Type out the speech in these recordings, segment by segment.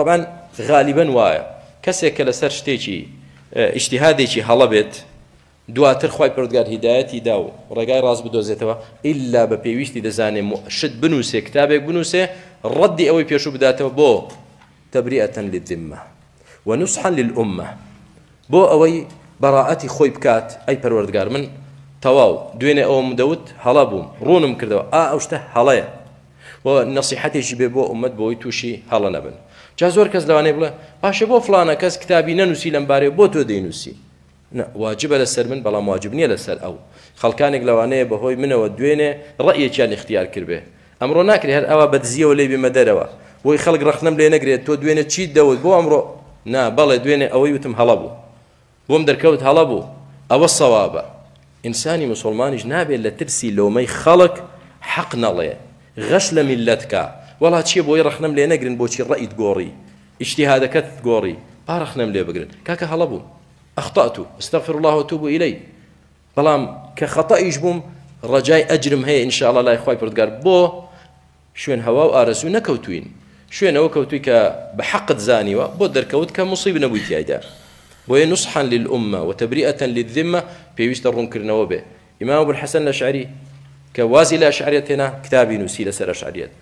طبعا غالیبەن وایە کەسێک کە لەسەر شتێکی ئیشتیهادێکی هەڵە بێت دواتر خی پردگار هیدایەتی دا و ڕێگای ڕاست بدۆزێتەوە ئللا بە پێویستی دەزانێ شت بنووسێ کتابێک بنووسێ ڕەدی ئەوەی پێشوو بداتەوە بۆ تەبریەتەن للذمە ونصحا للأمە بۆ ئەوەی بەڕائەتی خۆی بکات ئەی پەروەردگار من تەواو دوێنێ ئەوم دەوت هەڵە بووم ڕوونم کردەوە ئا ئەو شتە هەڵەیە و نەسیحەتێکی بێ بۆ ئومەت بۆی تووشی هەڵە نەبن جا زۆر کەس لەوانەیە بڵێ باشە بۆ فلانە کەس کتابی نەنووسی لەم بارەیە بۆ تۆ دەینووسی واجبە لەسەر من بەڵام واجب نییە لەسەر ئەو خەڵکانێک لەوانەیە بەهۆی منەوە دوێنێ ڕەیەکیان اختیار کردێ ئەمڕۆ ناکرێت هەر ئەوە بەدزیەوە لێ بمە دەرەوە بۆی خەڵک ڕخنم لێ نەگرێت تۆ دوێنێ چیت دەوت بۆ ئەمڕۆ نا بەڵێ دوێنێ ئەوەی وتم هەڵە بوو بۆم دەرکەوت هەڵە بوو ئەوە سەوابە ئینسانی مسوڵمانیش نابێت لە ترسی لۆمەی خەڵک حەق نەڵێ غەش لە میللەت کا وەڵا چیە بۆی ڕەخنەم لێ نەگرن بۆچی ڕەئیت گۆڕی ئیجتیهادەکەت گۆڕی با ڕەخنەم لێ بگرن کاکە هەڵە بووم اخطأت استغفر الله وتوب الیه بەڵام کە خەتەئیش بووم ڕەجای ئەجرم هەیە ان شاء الله لای خوای پردگار بۆ شوێن هەوا و ئارەزوو نەکەوتووین شوێنەوە کەوتووی کە بە حەقت زانیوە بۆت دەرکەوت کە موصیب نەبووی تیایدا بۆیە نصحا للامە وتبریئە للذمە پێویستە ڕوونکردنەوە بێ ئیمام ابو الحسن الاشعری کە وازی لە ئەشعریەت هێنا کتابی نووسی لەسەر ئەشعریەت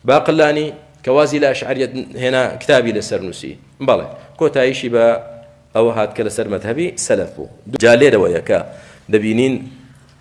باقلانی کە وازی لە ئەشعریەت هێنا کتابی لەسەر نووسی بەڵێ کۆتاییشی بە ئەوە هات کە لەسەر مەذهبی سەلەف بوو جا لێرەوەیە کە دەبینین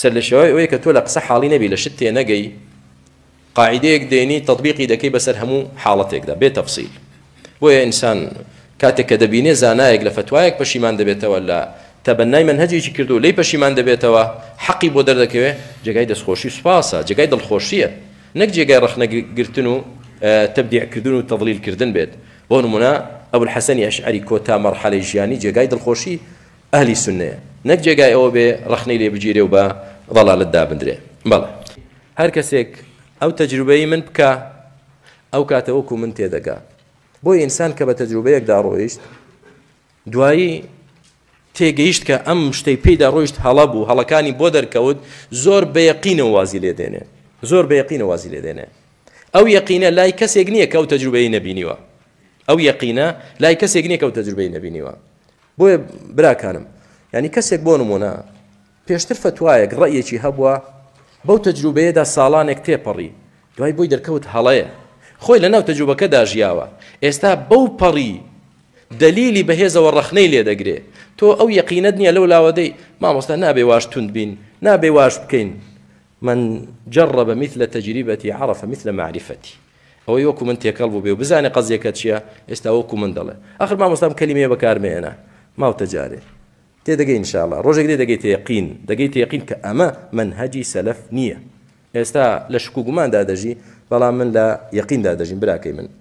سەرلەشێوای ئەوەی کە تۆ لە قسە حاڵی نەبی لە شت تێنەگەی قاعدەیەک دێنی تطبیقی دەکەی بەسەر هەموو حاڵەتێکدا بێ تەفسیل بۆیە ئینسان کاتێک کە دەبینێ زانایەک لە فتوایەک پەشیمان دەبێتەوە لە تەبەنای منهجێکی کردو لی پەشیمان دەبێتەوە حەقی بۆ دەردەکەوێ جێگای دەستخۆشی سوپاسە جێگای دڵخۆشیە نەک جێگای ڕەخنەگرتن و تبدیعکردن و تەڵیلکردن بێت بۆ نمونە ئەبول حەسەنی ئەشعری کۆتا مەرحەلەی ژیانی جێگای دڵخۆشی ئەهلی سوننەیە نەک جێگای ئەوە بێ ڕەخنەی لێ بگیرێ و بە ضەلالەت دابندرێ بەڵێ هەر کەسێک ئەو تەجروبەی من بکا ئەو کاتە وەکو من تێدەگا بۆ ئینسان کە بە تەجروبەیەکدا ڕۆیشت دوایی تێگەیشت کە ئەم شتەی پێیدا ڕۆیشت هەڵە بوو هەڵەکانی بۆ دەرکەوت زۆر بەیەقینە وازی لێ دێنێ زۆر بەیەقینە وازی لێ دێنێ ئەو یەقینە لای کەسێک نییە کە ئەو تەجروبەی نەبینیوە ئەو یەقینە لای کەسێک نییە کە ئەو تەجروبەی نەبینیوە بۆیە براکانم یعنی کەسێک بۆ نمونە پێشتر فتوایەک ڕەیەکی هەبووە بەو تەجروبەیەدا ساڵانێک تێپەڕی دوای بۆی دەرکەوت هەڵەیە خۆی لە ناو تەجروبەکەدا ژیاوە ئێستا بەو پەڕی دلیلی بەهێزەوە ڕخنەی لێ دەگرێ تۆ ئەو یقینەت نییە لەو لاوەدەی مامۆستا نابێ واش تونند بین نابێ واش بکەین من جرب مثل تجربتي عرف مثل معرفتي ئەوەی وەکو من تێکەڵ بووبێ و بزانێ قەزیەکە چیە ئێستا وەکو من دەڵێ ئاخر مامۆستا ئەم کەلیمەیە بەکار مەیەنە ماوتە جارێ تێدەگەی ان شاء اللە ڕۆژێک دێ دەگەیتە یەقین دەگەیتە یەقین کە ئەمە مەنهەجی سەلەف نییە ئێستا لە شک و گوماندا دەژی بەڵام من لە یەقیندا دەژیم براکەی من